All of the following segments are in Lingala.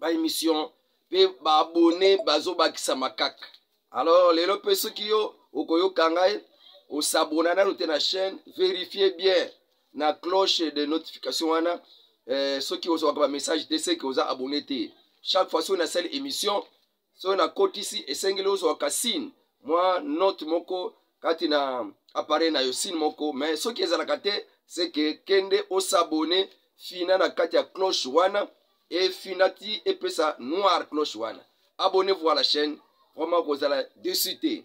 ba émission mpe baabone bazobakisama kaka alors lelo mpe soki yo okoyoka ngai osabona nano te na chaîne verifie bien na cloche de notification wana eh, soki ozwaka bamessage te seke oza abone te chaque fois soki nasali émission soki nakotisi esengeli ozwa kasine mwa note moko kati na appareil na yo sine moko mais soki ezalaka te seke kende osabone fina na kati ya cloche wana efina ti epesa noir cloche wana abonnez-vous à la chaîne vraiment kozala dessus te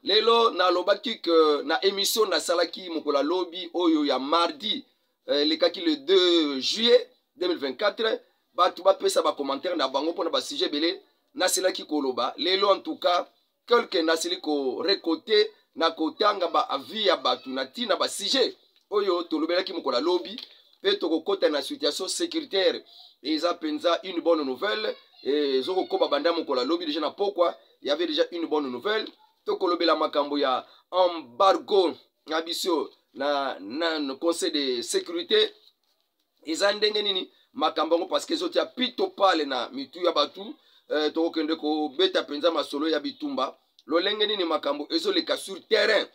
lelo nalobaki ke na emission nasalaki mokolo ya lobi oyo ya mardi eh, elekaki le 2 juillet 2024 bato bapesa bacommentaire na bango mpona basujet ebele nasilaki koloba lelo en tout cas quelque nasili korekote na kotanga baavis ya bato na ntina basujet oyo tolobelaki mokolo ya lobi mpe tokokota na situation sécuritaire eza mpenza une bonne nouvelle ezokokoba banda mokolo ya lobi deja na pokwa y avait déjà une bonne nouvelle tokolobela makambo ya embargo na biso na, na conseil de sécurité eza ndenge nini makambo yango parceke ezotya pito pale na mitu ya bato eh, tokokende kobeta mpenza masolo ya bitumba lolenge nini makambo ezoleka sur terrain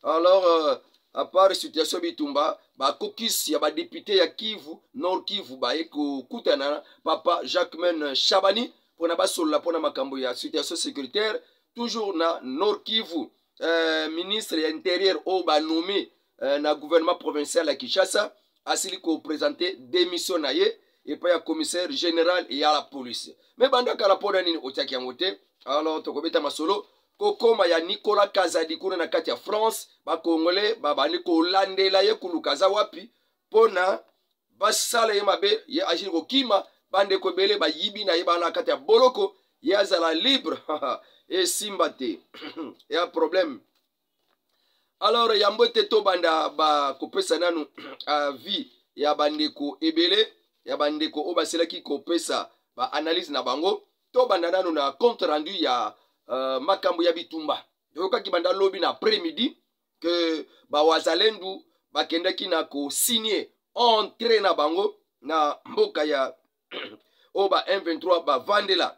alors euh, apart situation bitumba bakokisi ya badepute ya kivu nord kivu baye kokutana na papa jacquemain shabani mpona basolola mpona makambo ya situation sécuritaire toujours na nord kivu euh, ministre ya interieur oyo banome eh, na gouvernement provincial ya kinshasa asili kopresente demission na ye epai ya commissaire général ya la police me banda kala mpo na nini otiaki yango te alors tokobeta masolo kokoma ya nicolas kazadi kuna na kati ya france bakongole babandi kolandela ye koluka aza wapi mpo na basala ye mabe ye agili kokima bandeko ebele bayibi na ye bana na kati ya boloko ye azala libre esimba te ya problème alors yambo ete tobanda bakopesa nanu avis ya bandeko ebele ya bandeko oyo basilaki kopesa baanalyse na bango tobanda nanu na compte rendu ya uh, makambo ya bitumba toyokaki banda lobi na après midi ke bawazalendu bakendaki na kosigne entre na bango na mboka ya oyo ba m23 bavandela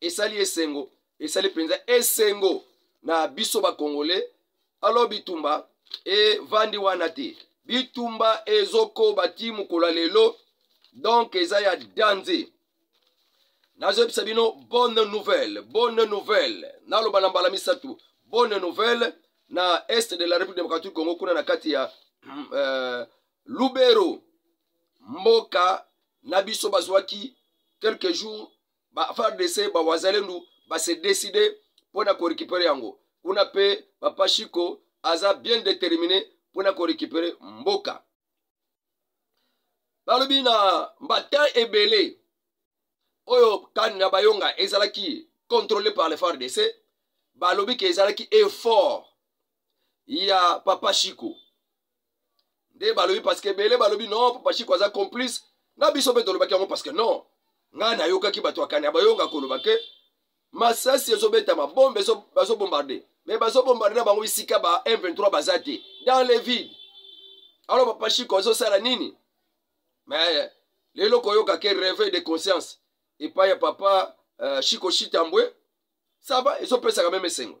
esali esengo esali mpenza esengo na biso bakongole alo bitumba evandi wana te bitumba ezokoba ti mokolo ya lelo donk eza ya danze nazoyebisa bino bonne nouvelle bonne nouvelle naloba na mbala misato bonne nouvelle na est de la république démocratique congo kuna na kati ya euh, lubero mboka na biso bazwaki quelques jours ba fardc ba wazalendu ba se décider mpo na korekipere yango kuna mpe papa shiko aza bien déterminé mpo na korekipere mboka balobi na matin ebele oyo kani na bayonga ezalaki contrôlé par le fardc balobi ke ezalaki effort ya papa shiko nde balobi parceke ebele balobi non papa chiko aza complice na biso mpe tolobaki yango parceke non ngai nayokaki bato ya kani abayonga koloba ke masasi ezobetama bombe bazobombarde me bazobombarde na bango bisika ba m23 baza te dans le vide alors papa chiko azosala nini me lelo koyoka ke réveil de conscience epai ya papa uh, chiko chitambwe saba ezopesaka meme esengo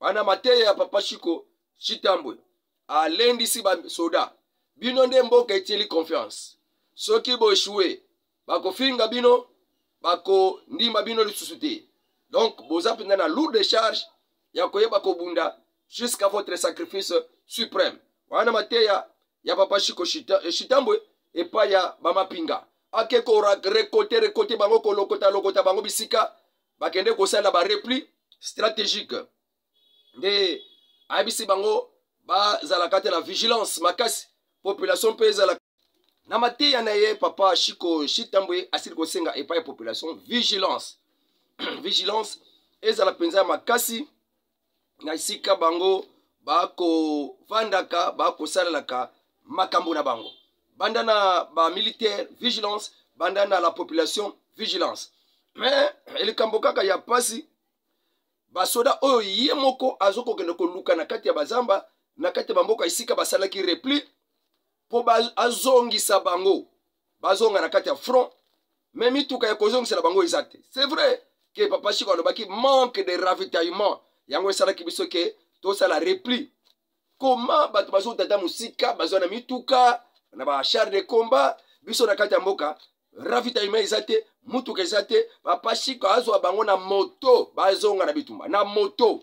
bana mateya ya papa shiko shitambwe alendisi basoda bino nde mboka etieli confiance soki boeshue bakofinga bino bakondima bino lisusu te donc boza mpenza na lourde charge ya koyeba kobunda jusqu'à votre sacrifice suprême wana mateya ya papa shiko shitambwe eh, epai ya bamapinga ake korekote rekote bango kolokota lokota bango bisika bakende kosala ba repli stratégique nde ayebisi bango bazalaka te na vigilance makasi population mpe ezalaka na mateya na ye papa shiko shitambwe asili kosenga epai ya population vigilance vigilance ezala mpenza ya makasi na esika bango bakofandaka bakosalelaka makambo na bango banda na bamilitaire vigilance banda na la population vigilance me likambo kaka ya mpasi basoda oyo ye moko azokokende koluka na kati ya bazamba na kati ya bamboka esika basalaki repli mpo azongisa bango bazonga na kati ya front me mituka ya kozongisela bango eza te c'est vrai ke papa chiko alobaki manque de ravitaillement yango esalaki biso ke tosala repli koma bato bazouta ata mosika bazwa na mituka na bachar de combat biso na kati ya mboka ravitaillement eza te motuka eza te papa chiko azwa bango na moto bazonga na bitumba na moto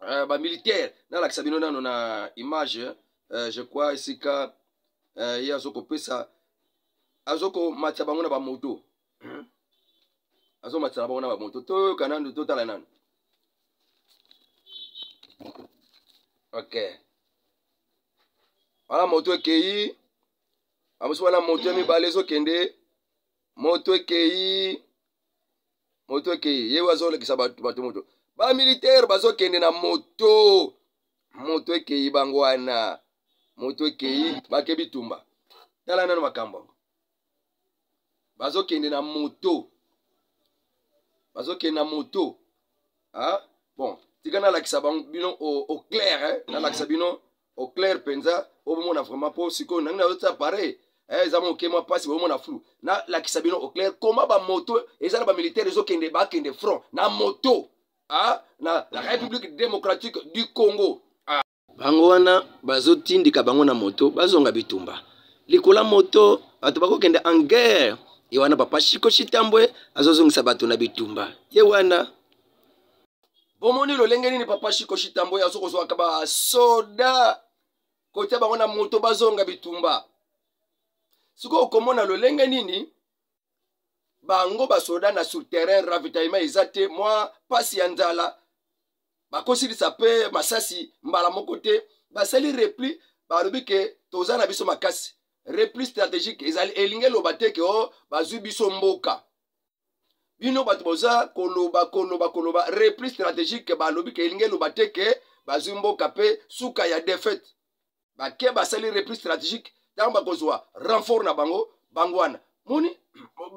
uh, ba militaire nalakisa bino nano na image uh, je crois esika uh, ye azokopesa azokomatisa bango na bamoto hmm? azomatisa na bango na bamoto toyoka nanu totala nanu ok wana moto ekei bamosusu wana moto ya mibale ezokende moto ekei moto ekei ye azolekisa bato moto bamilitaire bazokende na moto moto ekei bango wana moto ekei bake bitumba tala nano makambo yango bazokende na moto bazokende na moto ha? bon tika nalakisa bango bino au clair eh? nalakisa bino au clair mpenza obomona vraiment mpo sikoyo nangi nayotia pareil eh, eza moke mwa mpasi bomona flou nalakisa bino au clair koma bamoto eza na bamilitaire ezokende bakende front na moto ah, na la république démocratique du congo ah. bango wana bazotindika bango na moto bazonga bitumba likola moto bato bakokende en guerre ye wana papa shiko shitambwe azozongisa bato na bitumba ye wana bomoni lolenge nini papa shiko shitambo ye azokozwaka basoda kotya bango na moto bazonga bitumba sikoyo okomona lolenge nini bango basoda na sur terrain ravitaillement eza te mwa mpasi ya nzala bakosilisa mpe masasi mbala moko te basali repli balobi ke toza na biso makasi repli stratégique ezali elingi eloba te ke o oh, bazwi biso mboka bino bato boza koloba koloba koloba repli stratégique balobi ke elingi eloba te ke bazwi mboka mpe suka ya defaite bake basali repli stratégique ntango bakozwa renfort na bango bango wana moni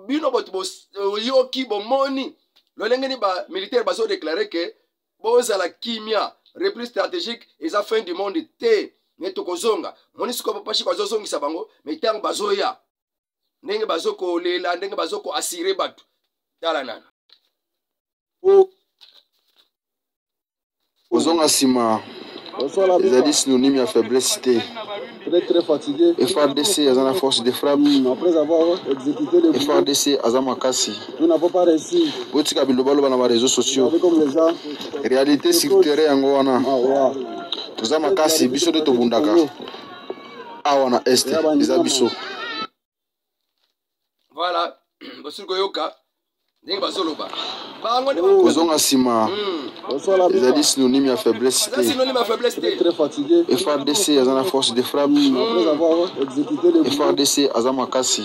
bino bato boyoki bomoni lolenge ni bamilitaire bazodeklare ke bozala kimia repli stratégique eza fin du monde te me tokozonga moni sikoyo bapashi bazozongisa bango me ntango bazoya ndenge bazo kolela ndenge bazo ko assurer bato tala nano po kozonga nsima ezali synonyme ya faiblesse te frdc aza na force de frappe hmm, frdc aza makasi botika bilobaloba na bareseau sociaux réalité sur terrain yango wana ah, toza makasi biso nde tobundaka awa na este eza biso voilà bosili koyoka ndenge bazoloba kozonga nsima hmm. ezali synonyme ya faiblesse te frdc aza na force de frappe hmm. frdc aza makasi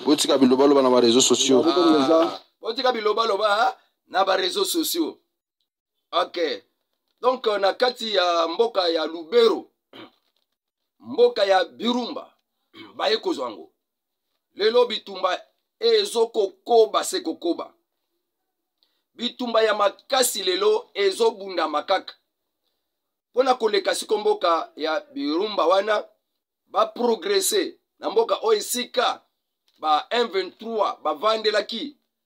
botika bilobaloba na bareseau sociaux ah. botika bilobaloba na bareseau sociaux ok donc euh, na kati ya mboka ya lubero mboka ya birumba baye kozwa yango lelo bitumba ezokokoba se kokoba bitumba ya makasi lelo ezobundama kaka mpo na koleka siko mboka ya birumba wana baprogrese na mboka oyo esika ba 123 bavandelaki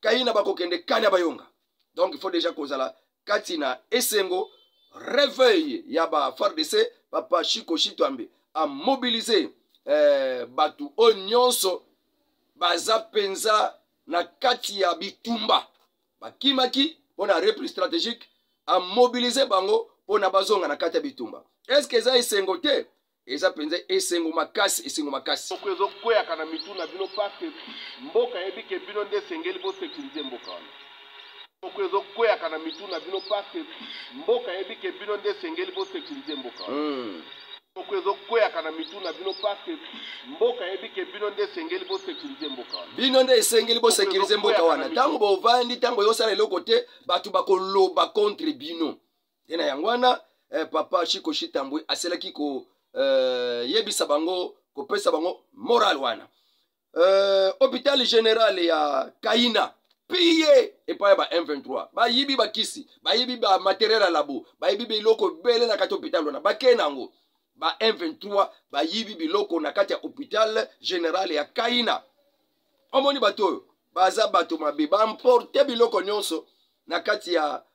kaina bakokende kani ya bayonga donc il faut déjà kozala kati na esengo reveil ya ba fardc papa chiko shitwambe amobilize eh, bato oyo nyonso baza mpenza na kati ya bitumba bakimaki mpo na repli stratégique amobilize bango mpo na bazonga na kati ya bitumba eske eza esengo te eza mpenza esengo makasi esengo makasi soko ezokweyaka na mitu na bino parke mboka yebi ke bino nde esengeli bosekirize mboka wana soko ezokweyaka na mitu na bino parke mboka yebi ke bino nde esengeli bosekirize mboka wana hmm. soko ezokweyaka na mitu na bino parke mboka yebi ke bino nde esengeli bosekirize mboka wana bino nde esengeli bosekirize mboka wana ntango bovandi ntango yosala eloko te bato bakoloba contre bino ye na yango wana eh, papa chiko shitambwe aselaki koyebisa eh, bango kopesa bango moral wana eh, hôpital général ya kaina piye epai ya ba m23 bayibi bakisi bayibi ba materiel ya labo bayibi biloko ebele na kati hôpital wana bakei na yango ba m23 bayibi biloko na kati ya hôpital général ya kaina omoni bato oyo baza bato mabe baimporte biloko nyonso na kati ya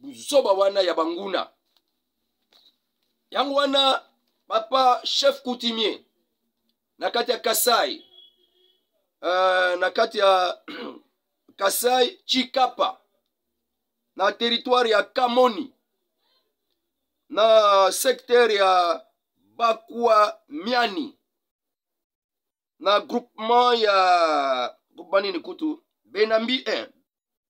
buzoba wana ya banguna yango wana papa chef coutumier na kati ya kasai uh, na kati ya kasai chikapa na teritware ya kamoni na sektere ya bakwa miani na groupement ya groupement nini kutu benambi 1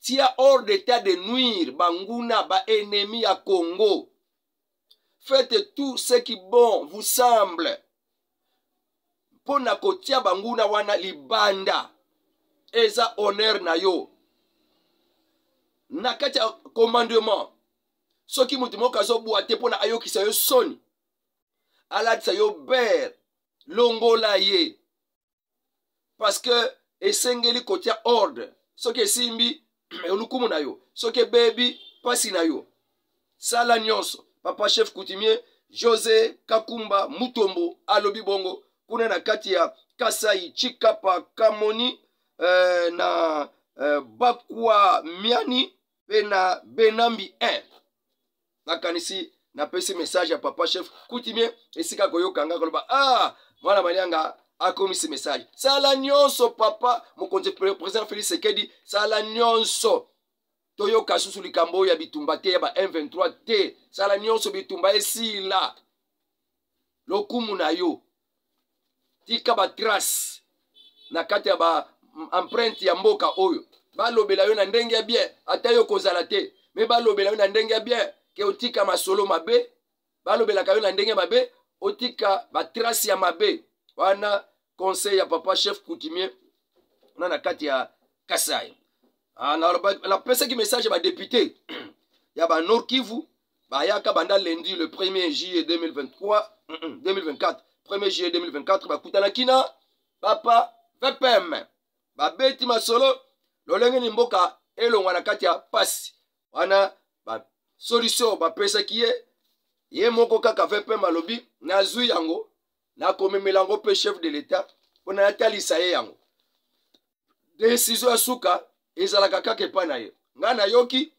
tia hors d'état de nuire banguna baennemi ya congo faites tout ce qui bon vous semble mpo na kotia banguna wana libanda eza honneur na yo na kati ya commandement soki moto moko azobwa te mpo na ayokisa yo soni alatisa yo bere longola ye parce que esengeli kotia ordre soki esimbi olukumu na yo soki ebebi mpasi na yo sala nyonso papa chef coutumier josé kakumba mutombo alobi bongo kuna na kati ya kasai chikapa kamoni eh, na eh, bakwa miani mpe na benambi 1 nakanisi napesi message ya papa chef kutimie esika koyoka nga koloba ah mwana malianga akomisi message sala nyonso papa mokonzi president felix sekedi sala nyonso toyoka susu likambo oyo ya bitumba te ya ba m23 te sala nyonso bitumba esila lokumu na yo tika batrace na kati ya ba empreinte ya mboka oyo balobela yo na ndenge ya bien ata yo kozala te me balobela yo na ndenge ya bien ke otika masolo mabe balobelaka yo na ndenge mabe otika batrace ya mabe wana conseil ya papa chef coutumier na na kati ya kasai ah, napesaki message ya badepute ya banor kivu bayaka banda lundi le 1er juillet 2023 2024 1er juillet 2024 bakutanaki na papa vpm babeti masolo lolenge ni mboka elongwa na kati ya pasi wana basolution bapesaki ye ye moko kaka vpm alobi nazwi yango nakomemela yango mpe chef de l'etat mpo na natalisa ye yango desizio ya suka ezalaka kaka epai na ye ngai nayoki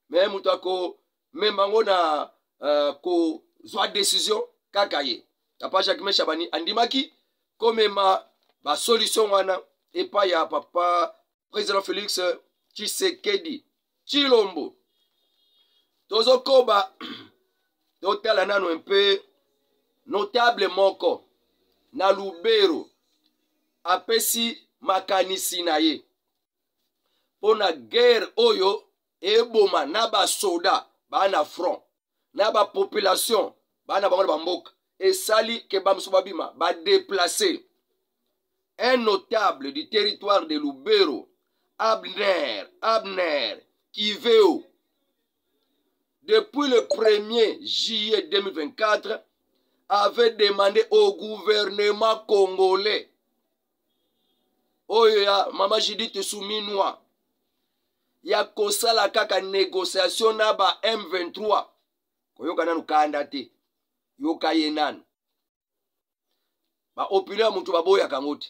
me moto akomema yango na uh, kozwa desizio kaka ye papa jacques meshabani andimaki komema basolution wana epai ya papa président félix tshisekedi chilombo tozokoba totala nano mpe notable moko na lubero apesi makanisi na ye mpo na guerre oyo eboma na basoda bana front na ba population bana bango na bamboka esali ke bamosusu babima badeplace un notable du territoire de lubero abner abner kiveo depuis le 1er juillet 2024 avait demandé au gouvernement congolais oyo ya mama judite suminwa ya kosala kaka negociation na ba m23 koyoka nanu kanda te yoka ye nanu baopulio ya moto baboyaka yango te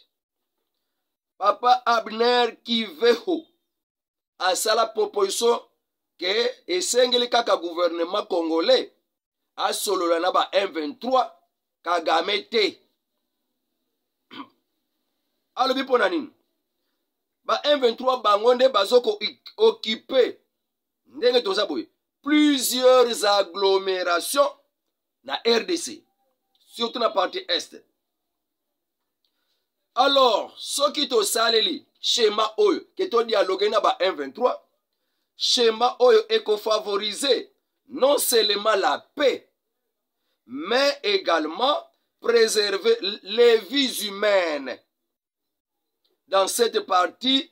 papa abner kiveho asala proposition ke esengeli kaka gouvernement congolais asolola na ba m23 kagame te alobi mpo na nini ba m23 bango nde bazokokipe ndenge toza boye plusieurs agglomérations na rdc surtout na partie est alors soki tosaleli shema oyo ke todialoge na ba 123 shema oyo ekofavorize non seulement la paix mais également préserver les vies humaines dans cette partie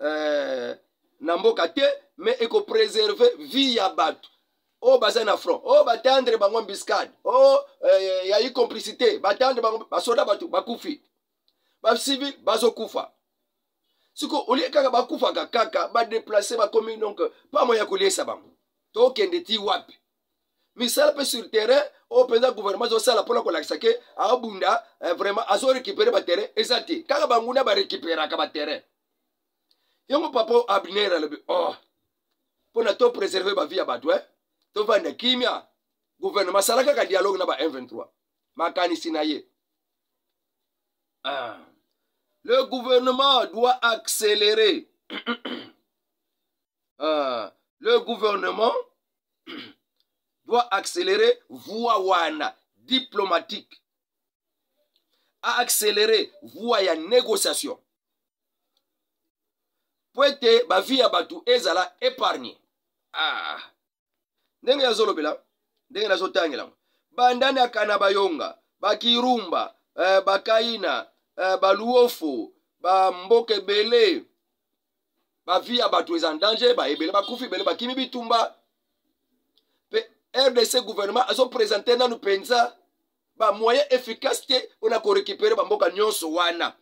eh, na mboka te me ekopreserve vie ya bato oyo oh, baza na front oyo oh, batandre bango embuscade oyo oh, eh, ya incomplicité batandre bango basoda bato bakufi bacivil bazokufa siko olie kaka bakufaka kaka badeplace bakomi donc pamo ya koliesa bango tokende ti wapi misala mpe sur terrain oyo mpenza gouvernement azosala mpona kolakisa ke abunda eh, vraiment azorécupere baterrain eza te kaka banguna barécuperaka baterrain yango papa oyo abner alobi oh mpona to préserve bavi ya bato e eh? tovanda kimia gouvernement asala kaka dialogue na ba 123 makanisi na ye ah. le gouvernement doit accélérer uh, le gouvernement doit accélérer voie wana diplomatique a accélérer voie ya négociation mpo ete bavi ya bato ezala épargne ah. ndenge nazolobela ndenge nazotangela yango banda na kana bayonga bakirumba eh, bakaina eh, baluofo bamboka ebele bavi ya bato eza danger baebele bakufi ebele bakimi bitumba mpe rdc gouvernement azopresente nanu mpenza bamoyen efficace te mpo na korekipere bamboka nyonso wana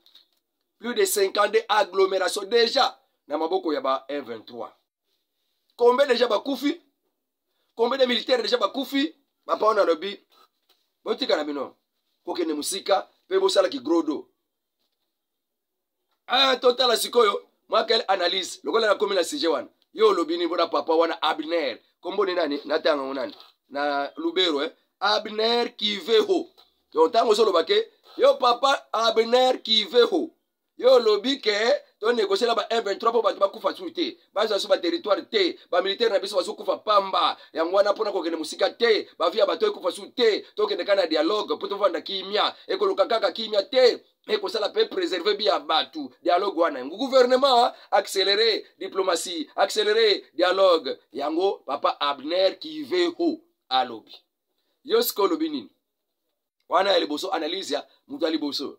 plus de 52 agglomération déjà na maboko ya ba 23 combien deja bakufi combien de militaire deja bakufi papa wana alobi botika na bino kokende mosika mpe bosala kigrodo ah, totala sikoyo mwa quelle analyse lokola nakomi na sujet wana yo olobi nini mpona papa wana abner komboni nani natanga yango nani na lubero eh? abner kiveho donc ntango ozoloba ke yo papa abner kiveho yo olobi ke to negocier na ba M23 mpo bato bakufa su te bazwa su baterritoire te bamilitaire na biso bazokufa pamba yango wana mpona kokende mosika te bavi ya bato ekufa su te tokende kaka na dialogue mpo tovanda kimia ekoluka kaka kimia te ekosala mpe preserve bi ya bato dialogue wana yango gouvernement accéléré diplomatie accéléré dialogue yango papa abner kiveho alobi yo sika olobi nini wana ya liboso analyse ya moto ya liboso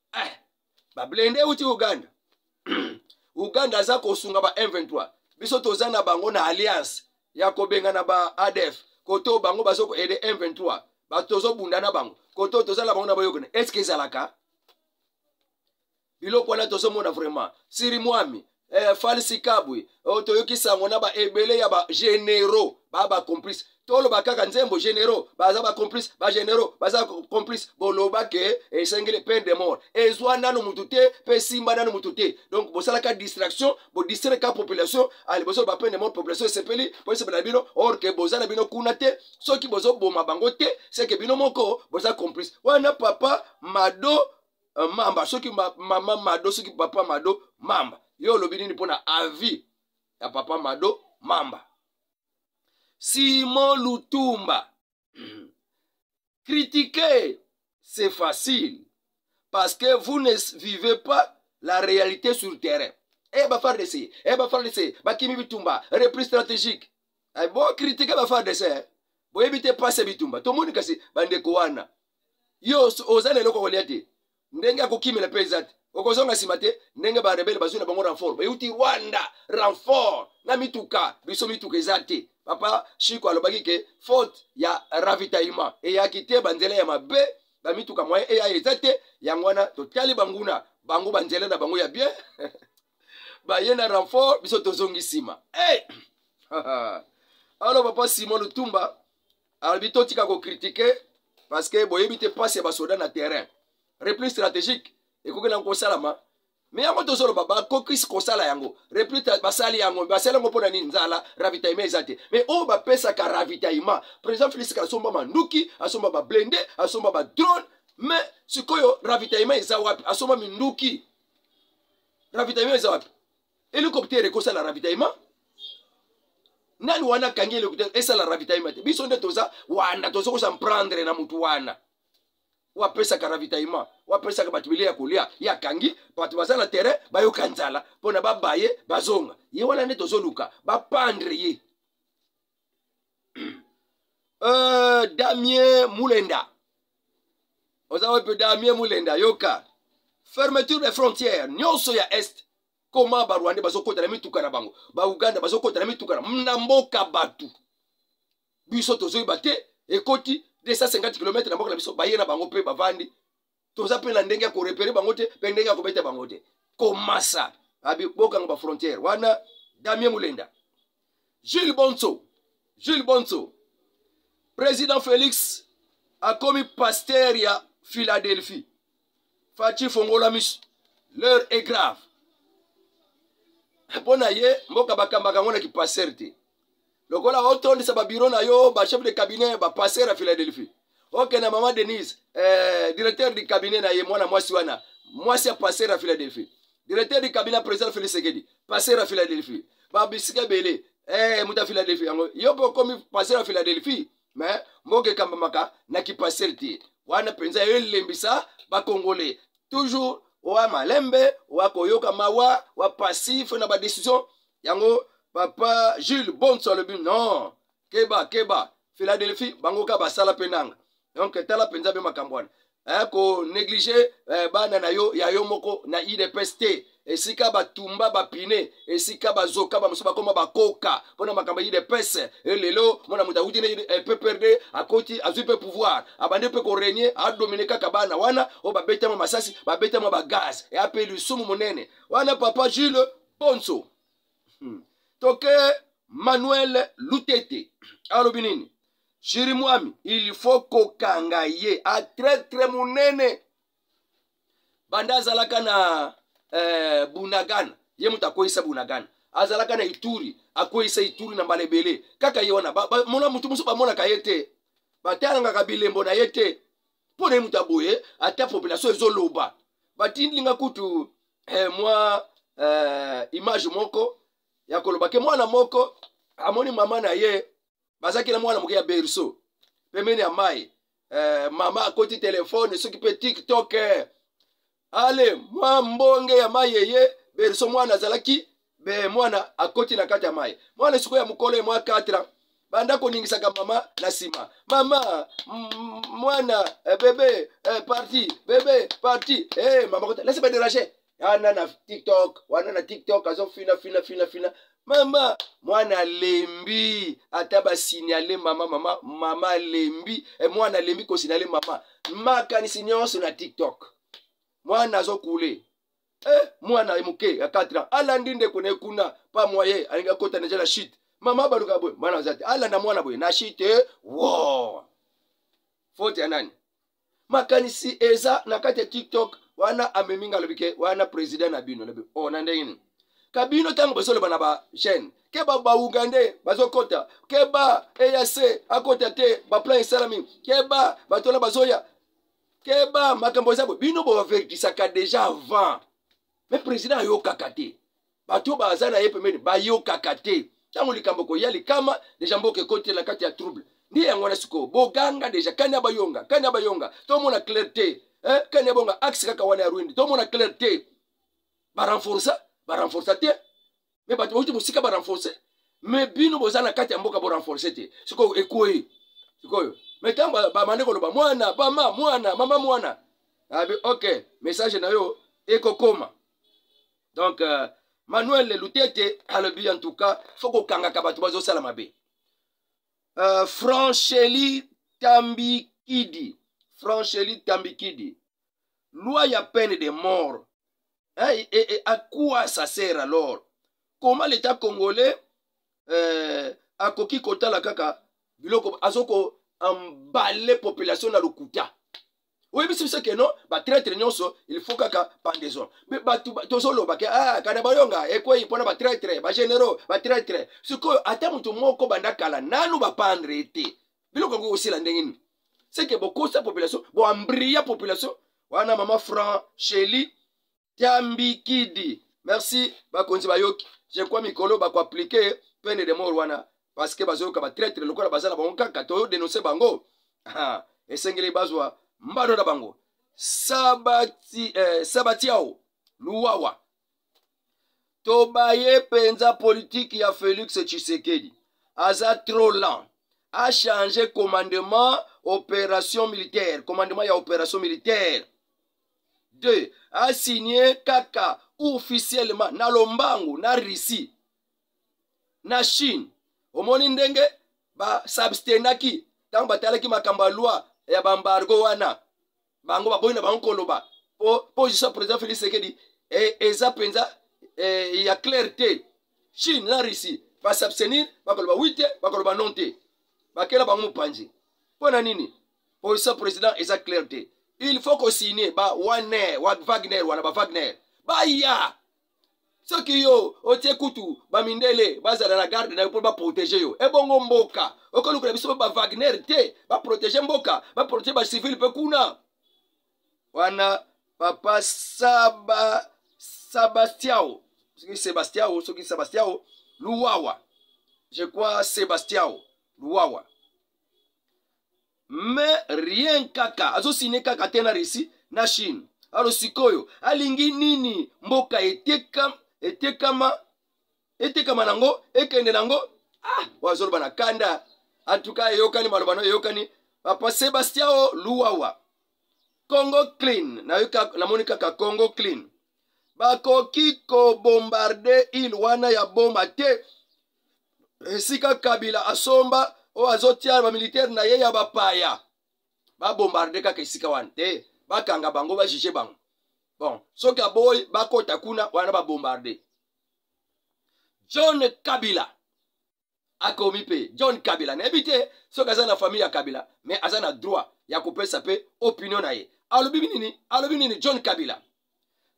eh, bablende euti uganda uganda aza kosunga ba m23 biso toza na bango na alliance ya kobengana ba adf koto bango bazo koede m23 bato tozobunda na bango koto toza na bango na boyokani estce ezalaka biloko wana tozomona vraiment siri mwami eh, falsi kabwe oh, toyoki sango na baebele ya bagénéraux ba bacomplice toloba kaka nzembo généraux baza bacomplice bagénéraux baza complice boloba ke esengeli peine de mort ezwa nano motu te mpe esimba nano motu te donc bosalaka distraction bodistraika population aliboso ah, ba peine de mort population esepeli mpo esepela na bino or ke boza na bino kuna te soki bozoboma bango te seke bino moko boza complice wana papa mado uh, mamba soki ma, mama mado soki papa mado mamba yo olobi nini mpona avis ya papa mado mamba simon lutumba critiquer c'est facile parce que vous ne vivez pas la réalité sur le terrain e eh, bafardc e eh, bafardc bakimi bitumba repris stratégique eh, bo critique bafardc boyebi te pase bitumba tomoni kasi bandeko wana yo oza na eloko kolia te ndenge ya kokimela mpe eza te okozonga nsima te ndenge barebele bazwi na bango renfort beuti rwanda renfort na mituka biso mituka eza te papa shiko alobaki ke faute ya ravitaillement eyaki te banzela ya mabe bamituka moyen eya eza te yango wana totali banguna bango banzela na bango ya bien baye na renfort biso tozongi nsima hey! alo papa simon lutumba alobi totika kokritike parce que boyebi te mpasi ya basoda na terrain repli stratégique ekoki nango kosalama me yango tozoloba bakokisi kosala yango repli basali yango basali yango mpo na nini nzala ravitaillement eza te me oyo bapesaka ravitaillement président félix asomba manduki asomba bablende asomba badrone me sikoyo ravitaillement eza wapi asomba minduki ravitaillement eza wapi helicoptère ekosala ravitaillement nani wana akangi helicoptère esala ravitaillement te biso nde toza wana toza kosa mprendre na motu wana wapesaka ravitaillement wapesaka bato bile ya kolia ye akangi bato baza na terrain bayoka nzala mpo na babaye bazonga ye wana nde tozoluka bapandre ye euh, damien mulenda oza wapi mpe damien mulenda yoka fermeture des frontières nyonso ya est koma barwande bazokota na mituka na bango bauganda bazokota na mituka na mboka bato biso tozoyeba te ekoti 250 km na mboka na biso baye na bango mpe bavandi toza mpe na ndenge ya korepere bango te mpe ndenge ya kobeta bango te komasa abibokanga bafrontière wana damien molenda jules bonso jules bonso président félix akomi pasteur ya philadelphie faci fongola miso l'heure est grave mpo na ye mboka bakambaka yango na kipastere te lokola otondisa babiro na yo bachef de cabinet bapaster ya philadelphie okende na mama denise eh, directeur du cabinet na ye mwana mwasi wana mwasi ya paster ya philadelphie directeur du cabinet président félix sekedi paster ya philadelphie babisika ebele eh, moto ya philadelphie yango yo mpe okomi paster ya philadelphie me mboka ekambamaka na kipasele te wana mpenza elembisa bakongole toujours wa malembe wa koyoka mawa wa passif na badecision yango papa jules bonso alobi non keba keba philadelphie bango ka basala mpe nanga donc tala mpenza mpe makambo wana eh, ko neglige eh, bana na yo ya yo moko na idps te esika batumba bapine esika bazoka bamosusu bakoma bakoka mpo na makambo ya idps e eh, lelo mwana moto awuti na eh, pprd akoti azwi mpe pouvoir abandi mpe koregne adomine kaka bana wana oyo babetama masasi babetama bagaz eya mpe lisumu monene wana papa jules ponso hmm. toke manuel lutete alobi nini shiri mwami il faut kokanga ye atretre monene banda azalaka na eh, bunagana ye moto akweyisa bunagana azalaka na ituri akweyisa ituri na mbala ebele kaka ye wana mona motu mosusu bamonaka ye te batalangaka bilembo na ye te mpo na ye moto aboye ata population ezoloba batindilinga kutu eh, mwa eh, image moko ya koloba ke mwana moko amoni mama na ye bazalaki na mwana moke ya berceau pembeni ya mai eh, mama akoti telefone soki mpe tiktok eh. ale mwa mbonge ya mai eye berceau mwana azalaki be mwana akoti na kati ya mai mwana esiko ya mokolo ye mwa 4 ans banda koningisaka mama na nsima mama mwana eh, bebe eh, parti bebe parti hey, eh, mama kota lasi baderage ana na tiktok wana na tiktok azofina fina fina fina mama mwana alembi ata basinyale mama mama mama alembi e mwana alembi kosinyale mama makanisi nyonso na tiktok mwana azokule eh, mwana ye moke ya 4 ans alandi ndeko na ye kuna pa moye alingi akota deja na shite mama baluka boye mwana aza te alanda mwana boye na shite wo fote ya nani makanisi eza na kati ya tiktok wana amemi nga alobi ke wana president na bino lobi o oh, na ndenge nini kabino ntango bazoloba na ba jeune ke ba baugandais bazokota ke ba eac akota te baplan esalami ke ba bato wana bazoya ke ba makambo eza boye bino bobavertisaka deja avant me president ayokaka te bato oyo baza na ye pembeni bayokaka te ntango likambo koya likama deja mboka ekoti na kati ya trouble nde yango wana sikoyo boganga deja kani ya bayonga kani ya bayonga tomona claire te eh? kani ya bonga axe kaka wana ya rwindi tomona claire te barenforsa barenforsa te me bato bauti mosika barenforse me bino boza na kati ya mboka borenforse te sikoyo ekwei sikoyo me ntango bamande koloba mwana bama mwana mama mwana abi ok message na yo ekokoma donc euh, manuel lutete alobi en tout cas fo kokangaka bato bazosala mabe euh, francheli tambikidi francheli tambikidi loi ya peine de mort eh, et, et, et à quoi ça sert alors comment l'état congolais euh, akoki kotala kaka biloko azoko embale population na lokuta oyebisi biso ke non batraitre nyonso il faut kaka pendaison me bato tozoloba ke ah, kana bayonga ekwei mpona batraitre bagénéraux batraitre sikoyo ata moto moko banda kala nanu bapandre ye te biloko yango kosila ndenge nini seke bokosa population boambria population wana mama franc sheli Tambikidi. Merci bakonzi bayoki. Je crois mikolo bako appliquer peine de mort wana parce que bazoyoka ba traitre lokola baza na bango kaka to denoncer bango. Ah, esengeli bazwa mbano na bango. Sabati eh, Sabatiao Luwawa. Tobaye penza politique ya Felix Tshisekedi. Aza trop lent. A changer commandement opération militaire, commandement ya opération militaire. 2 asigne kaka officiellement na lombango na russie na chine omoni ndenge basabstenaki ntango batalaki makambo ya loi ya bambargo wana bango baboyi na bango koloba po position ya président félix sekedi e, eza mpenza e, ya claire te chine na russie basabstenir bakoloba wi te bakoloba non te bakela bango mopanzi mpo na nini pour ce président eza clair te il faut kosigne ba waner wa wagner wana ba wagner baya soki yo otie kutu bamindele bazala na garde na yo mpo baprotege yo ebongo mboka okolukela biso ba wagner te baprotege mboka baprotege bacivile mpe kuna wana papa saba sabastiao soki sebastiao soki sebastiao luwawa je crois sebastiao luwawa mais rien kaka azosine kaka te na russie na chine alo sikoyo alingi nini mboka etekama etekama etekama nango ekende nango ah wazoloba na kanda antuka eyokani maloba no eyokani papa sebastien o luwawa congo clean namoni kaka congo clean bakoki kobombarde ile wana ya boma te esika kabila asomba oyo azotia bamilitaire na ye ya bapaya babombarde kaka esika wana te bakanga bango bajuge bango bon soki aboyi bakota kuna wana babombarde john kabila akomi mpe john kabila nayebi te soki aza na famille ya kabila mais aza na droit ya kopesa mpe opinion na ye alobi nini alobi nini john kabila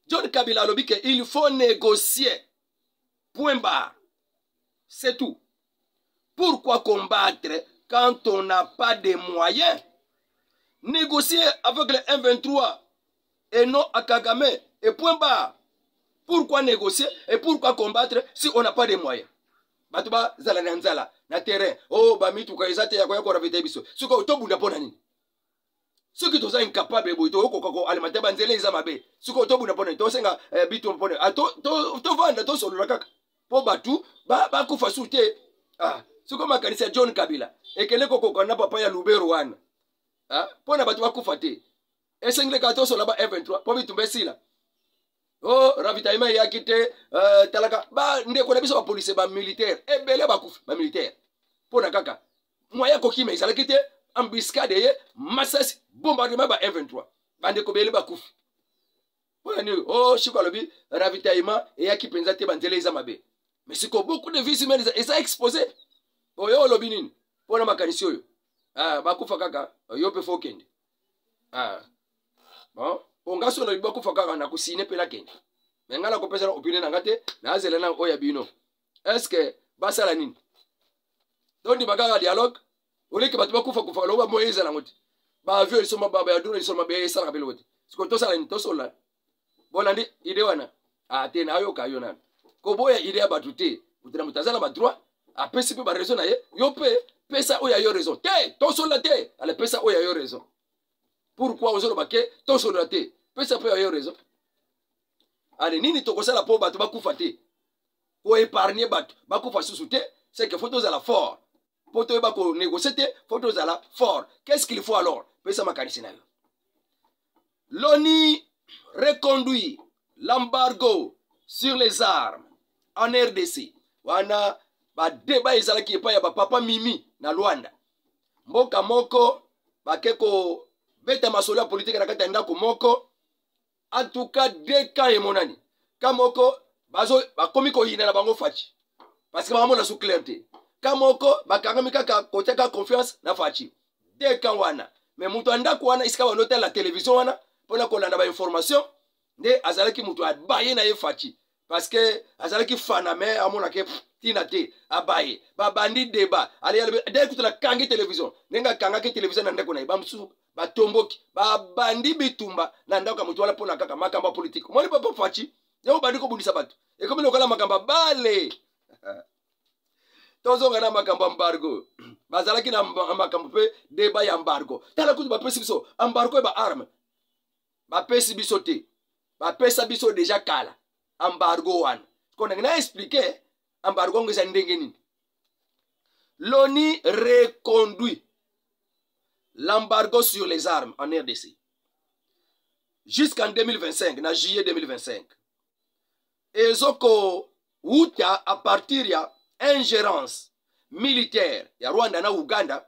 john kabila alobi ke il faut négocier Point barre. C'est tout. Pourquoi combattre quand on n'a pas de moyens Négocier avec le M23 et non à Kagame et point barre. Pourquoi négocier et pourquoi combattre si on n'a pas de moyens bato bazala na nzala na terrain o oh, bamituka eza te ya koya koravita biso soki tobunda mpo na nini soki toza incapable boye tokokoka koalimenter banzela eza mabe sikoyo tobuna mpona tosenga eh, bito mpona ah, tovanda tosolola kaka mpo bato bakufa su te ah, sikoyo makanisi ya john kabila ekende kokokana na papa ya lubero wana ah, mpo na bato bakufa te esengeli kaka tosolola ba f23 mpo bitumba esila o oh, ravitaillement eyaki te eh, talaka bandeko na biso bapolisie bamilitaire ebele bakufi bamilitaire mpo na kaka moyen kokima ezalaki te embuscade eye masasi bombardement ba m23 bandeko bele bakufi mpona nini o oh, shiko alobi ravitaillement eyaki mpenza te banzela eza mabe mais siko beaucoup de vies humaines eza expose oyo oh, olobi nini mpona makanisi oyo ah, bakufa kaka yo mpe fo okende ah. bon mpo nga so olobi bakufa kaka nakosine mpe nakende me ngai nakopesa na opine na ngai te nazela na oyo ya bino est ce que basala nini tondima kaka dialogue oleke bato bakufa kufa loba moye ezala yango te baavio liso mababa ya duna liso mabe esalaka mpe loko te sikoyo tosala nini tosolola bolandi ide wana ate ah, nayoka yo nani koboya ide ya bato te moto na moto aza na badroit apesi mpe baraison na ye yo mpe pesa oyo ya yo raison te tosolola te ale pesa oyo ya yo raison pourkui ozoloba ke tosolola te pesa mpe ya yo raison ale nini tokosala mpo bato bakufa te ko épargner bato bakufa susu te c'est que faut tozala fort mpo toyeba ko négocier te faut tozala fort qu'est ce qu'il faut alors pesa makanisi na yo l'oni reconduit l'embargo sur les armes en rdc wana badeba ezalaki epai ya bapapa mimi na lwanda mboka moko bake kobeta masolo ya politike na kati ya ndako moko en tout cas deux camps emonani ka moko bazo bakomi koyina na bango faci parce que bangamona su claire te ka moko bakangami kaka kotiaka confiance na faci deux camps wana mais moto ya ndako wana esika bando tala television wana mpona kolanda bainformation nde azalaki moto abaye na ye faci parce que azalaki fana me amonake ntina te abaye babandi deba aleyalde kutu nakangi televizio ndenge akangaki televizio na ndeko na ye bamosusu batomboki babandi bitumba na ndako ya moto wana mpona kaka makambo ya politike omoni papa faci yango obandi kobundisa bato ekomi lokola makambo ya bale tozonga na makambo ya mbargo bazalaki na makambo mpe deba ya mbargo tala kutu bapesi biso ambargo ya baarme bapesi biso te bapesa biso deja kala embargo wana ko ndenge na explike embargo yango eza ndenge nini loni reconduit l'embargo sur les armes en rdc jusqu'en 2025 na juillet 2025 ezokowuta a partir ya ingérence militaire ya rwanda na uganda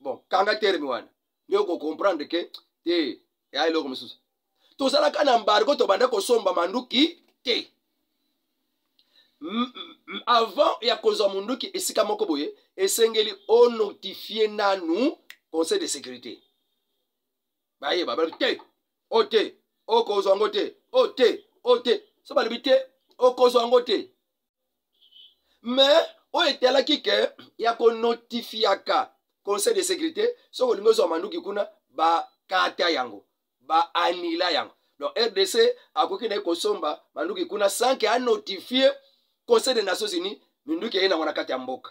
bon kanga terme wana nde okocomprendre ke te eya eloko mosusu tozalaka na mbargo tobanda kosomba manduki te avant ya kozwa monduki esika moko boye esengeli onotifie nanu conseil de sécurité bayeba balobi te o te okozwa yango te o te o te so balobi te okozwa yango te mais oyo etalaki ke ya konotifiaka conseil de sécurité soki olingi ozwa manduki kuna bakata yango baanila yango donc rdc akoki na ye kosomba manduki kuna sanke anotifie conseil des nations unies minduki eye nango na kati ya mboka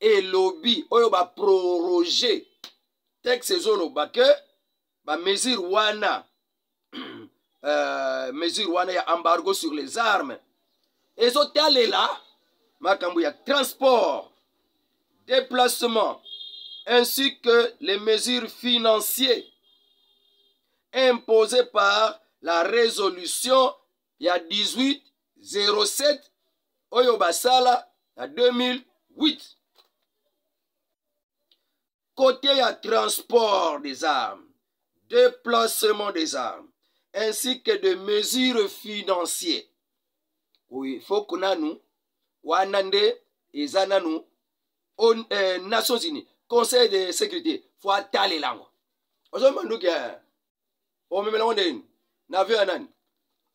elobi oyo baproroge texte ezoloba ke bamesure wana uh, mesure wana ya embargo sur les armes ezotalela makambo ya transport déplacement ainsi que les mesures financières imposées par la résolution ya 18 07 oyo basala na 2008 kote ya transport des armes déplacement des armes ainsi que de mesures financier oyo foko nanu wana nde eza nanu on, eh, nations unis conseil de sécurité fo atalela yango ozomona nduki eh. omemela yango ndenge nini na avion ya nani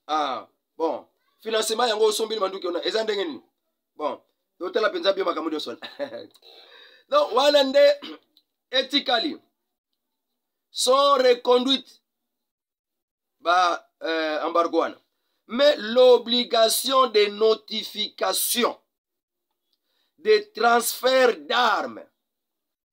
ah, bon financement yango osombili manduki ona eza ndenge nini bon totala mpenza bio makambo nyonso wana donc wana nde etikali sans reconduite ba euh, embargo wana mais l'obligation de notification de transfert d'armes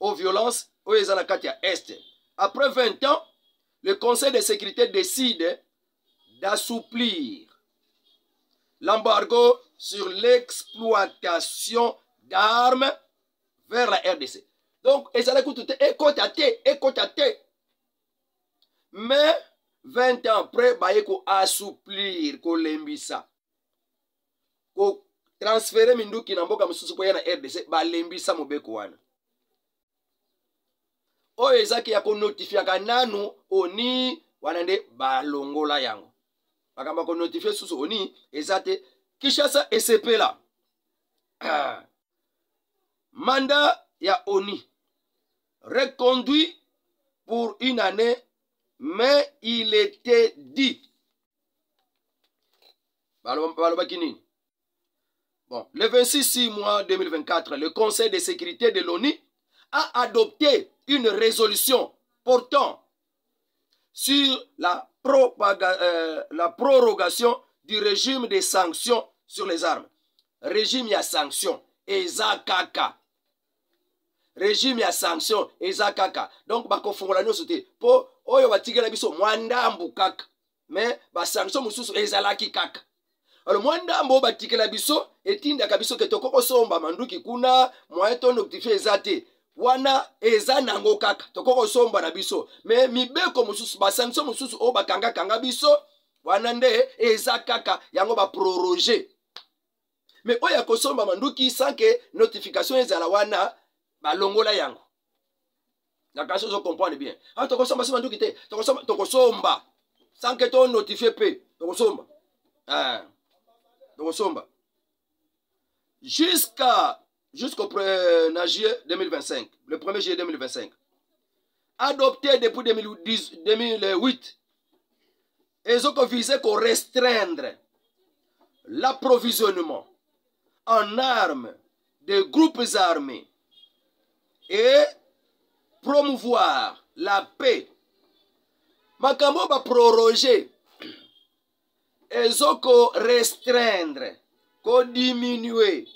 au violence oyo eza na kati ya est après 20 ans le conseil de sécurité décide d'assouplir l'embargo sur l'exploitation d'armes vers la rdc donc ezalaki kutu te ekota te ekota te mais 20 ans après baye koassouplir kolembisa kotransfere minduki na mboka mosusu mpo ya na rdc balembisa mobeko wana oyo ezaki ya konotifiaka nanu oni wana nde balongola yango makambo ya konotifie susu oni eza te kinshasa esepela ah. manda ya oni reconduit pour une année mais il était dit balobaki nini bon le 26 mois 2024 le conseil de sécurité de l'onu a adopté une résolution portant sur la, propaga, euh, la prorogation du régime des sanctions sur les armes régime ya sanction eza kaka régime ya sanction eza kaka donc bakofungola nyonso te mpo oyo batikela biso mwa ndambu kaka me basanction mosusu ezalaki kaka alo mwa ndambo oyo batikela biso etindaka biso ke tokoki kosomba manduki kuna moyen to noctifie eza te wana eza nango kaka tokoki kosomba na biso me mibeko mosusu basanction mosusu oyo bakangakanga biso wana nde eza kaka yango baproroge me oyo ya kosomba manduki sanke notification ezala wana balongola yango na kasi ozo comprendre bien a ah, tokosomba sima nduki te tokosomba tokosomba sans que to notifie mpe tokosomba eh, tokosomba jusqu'à jusqu'au na juillet 2025 le 1er juillet 2025 adopté depuis 2010, 2008 ezo ko viser ko restreindre l'approvisionnement en armes des groupes armés et promouvoir la paix makambo oyo baproroge ezo ko restreindre kodiminue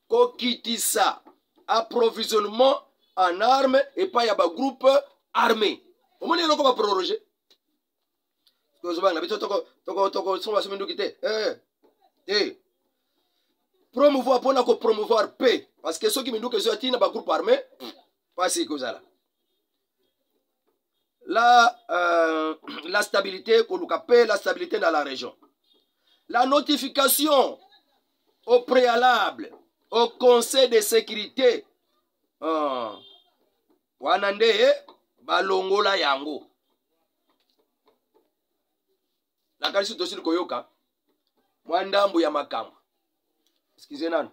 kokitisa approvisionnement en arme epai ya bagroupe armé omoni eloko baproroge ozobanga biso tokosunga biso minduki te eh, te promouvoir mpo na kopromouvoir pe parce que soki minduki ezoya ntina bagroupe armé mpasi ekozala la, euh, la stabilité koluka pe la stabilité na la région la notification au préalable au conseil de sécurité oh. wana nde balongola yango nakanisi tosili koyoka mwa ndambo ya makambo eskize nano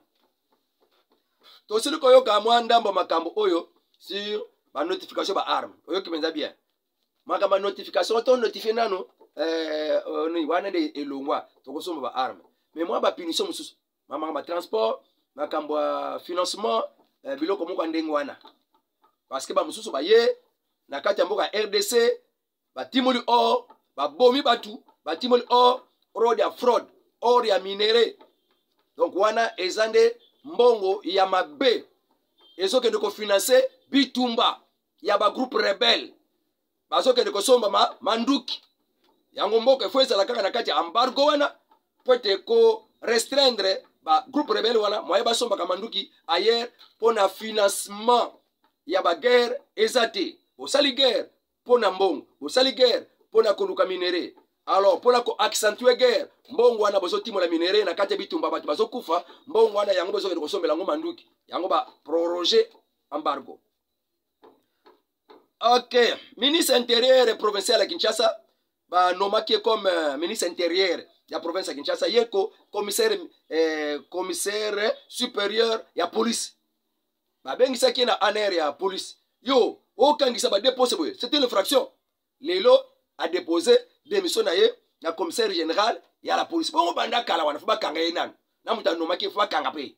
tosili koyoka mwa ndambo ya makambo oyo sur banotification baarme oyoki mpenza bien makambo ya notification to notifie nano eh, wana nde elongwa tokosomba baarme me mwa bapunition mosusu mamaka ma transport makambo ya financement eh, biloko moko ya ndenge wana parceke bamosusu baye na kati ya mboka ya rdc batimoli or babomi bato batimoli or rod ya fraude or ya minere donc wana eza nde mbongo ya mabe ezokende kofinanse bitumba ya bagroupe rebelle bazokende kosomba ma, manduki yango mboka efo ezala kaka na kati ya embargo wana mpo ete ko restreindre ba groupe rebelle wana moye basombaka manduki ailleurs mpo na financement ya baguerre eza te bosali guerre mpo na mbongo bosali guerre mpo na koluka minere alors mpo na koaccentue guerre mbongo wana bozotimola minere na kati ya bitumba bato bazokufa mbongo wana yango bozokende kosombela yango manduki yango baproroge embargo ok ministre intérieur provincial ya kinshasa banomaki ye comme euh, ministre intérieur ya province ya kinshasa ye ko commissaire, eh, commissaire supérieur ya police babengisaki ye na anr ya police yo okangisa badepose boye c'est une infraction lelo adepose démission na ye na commissaire général ya la police bongo banda kala wana fo bakanga ye nanu na moto anomaki fo bakanga mpe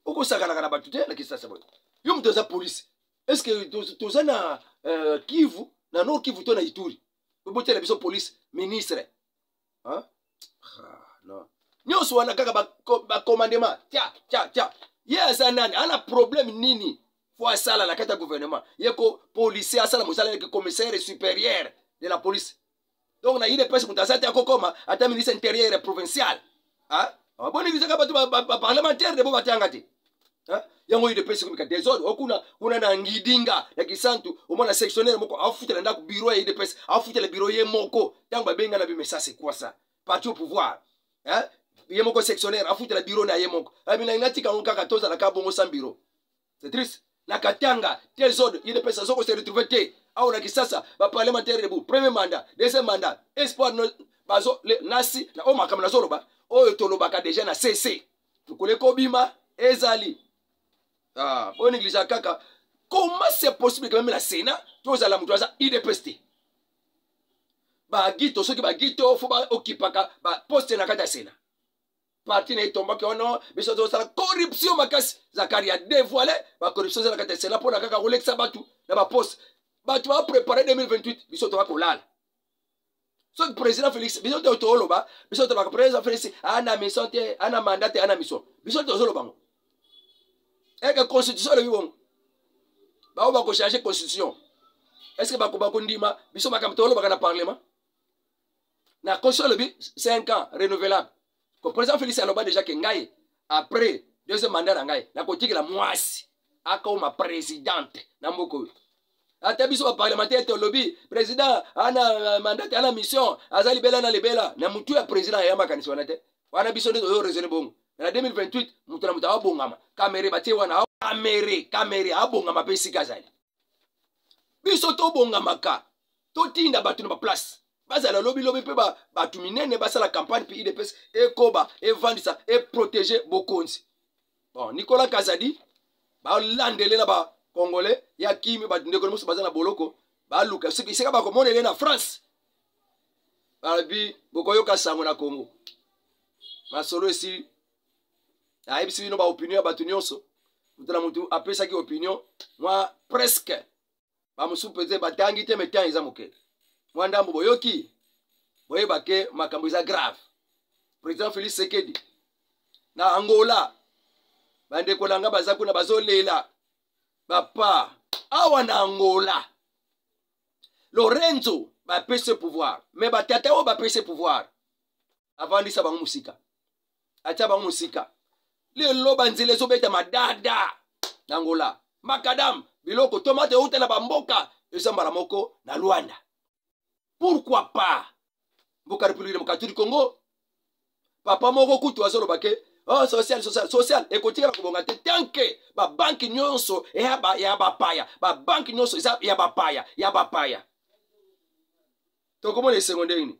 okosakanaka na bato te na kisasa boye yo moto aza polise estce toza na euh, kivu na nord kivu to na ituri obotela biso polise ministre ah, nyonso wana kaka bacommandema tya tya tya ye aza nani ana problème nini po asala na kati ya gouvernement ye ko policier asala mosala yeke commissaire supérieur de la police donc na udps moto aza te akokoma ata ministre intérieur ya provincial boni bizaka bato baparlementaire de bo batanga te yango udps ekomika desordre okuna kuna na ngidinga ya kisantu omona sectionnaire moko afutela ndako biro ya udps afutela biro ye moko ntango babenga na bimesa sekwasa parti au pouvoir ye moko sectionnaire afutela biro na ye moko abinainga tika yango kaka tozalaka bongo sans biro c'est triste na katanga te zone idps azo ko se retrouver te awa na kisasa baparlementaire debout premier mandat deuxième mandat espoir bazo nasi na oyo makambo nazoloba oyo tolobaka deja na cc tokole kobima ezali ah, oyo negligea kaka comment c'est possible que même na sénat tozala moto aza idps te bagito soki bagito fo baokipaka baposte na kati ya sénat parti na ye tombaki wana biso tozosala corruption makasi zakari ya devoile bacorruption ezalaka te sena mpona kaka kolekisa bato na baposte bato baprepare 2028 biso toba kolala soki président félix biso te toloba biso tolobaka président félix ana mission te ana mandat te ana mission biso tozoloba ngo eke constitution olobi bongo bango bakochange constitution est ce que bakobakondima biso makambo tolobaka na parlement na constitution alobi 5 ans renouvelable ko président félix aloba déjà ke ngai après deuxième mandat na ngai nakotikela mwasi akoma présidente na mboka oyo ata biso baparlementaire tolobi président ana mandate ana mission aza libela na libela na motu ya président aya makanisi wana te wana biso nde toyo raisonne bongo na 2028 moto na moto aabongama kamere batie wana kamere kamere abongama mpe esika azali biso tobongamaka totinda bato na baplace bazala lobilobi mpe bato minene basala campagne mpe idps ekoba evandisa eprotege bokonzi bon nicolas kazadi balandele na bacongolais ya kimi bandeko na mosu baza na boloko baluka soki esika bakomona ele na france balobi bokoyoka sango na congo masolo esili ayebisi bino baopinion ya bato nyonso moto na moto apesaki opinion mwa preske bamosusu pete batangi te metan eza moke mwa ndambo boyoki boyeba ke makambo eza grave président félix sekedi na angola bandeko na ngai baza kuna bazolela bapa awa na angola lorenzo bapesi pouvoir me batata oyo bapesi pouvoir avandisa bango mosika atia bango mosika lelo banzela ezobetama dada na ngola makadam biloko tomate euta na bamboka eza mbala moko na lwanda pourkui pas mboka republiki demokratiki congo papa moko kutu azoloba ke oh, social social social ekotikala kobonga te tanke babanki nyonso ya bapaya babanki nyonso eza ya bapaya ya bapaya tokomona esengo ndenge nini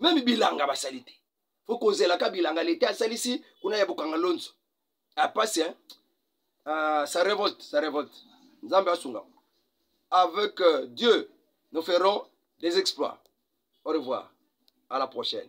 meme bilanga basali te fo kozelaka bilanga leta asalisi kuna ya bokanga lonzo apasi hein? uh, sa revolte sa revolte nzambe asunga avec euh, dieu nous ferons des exploits au revoir à la prochaine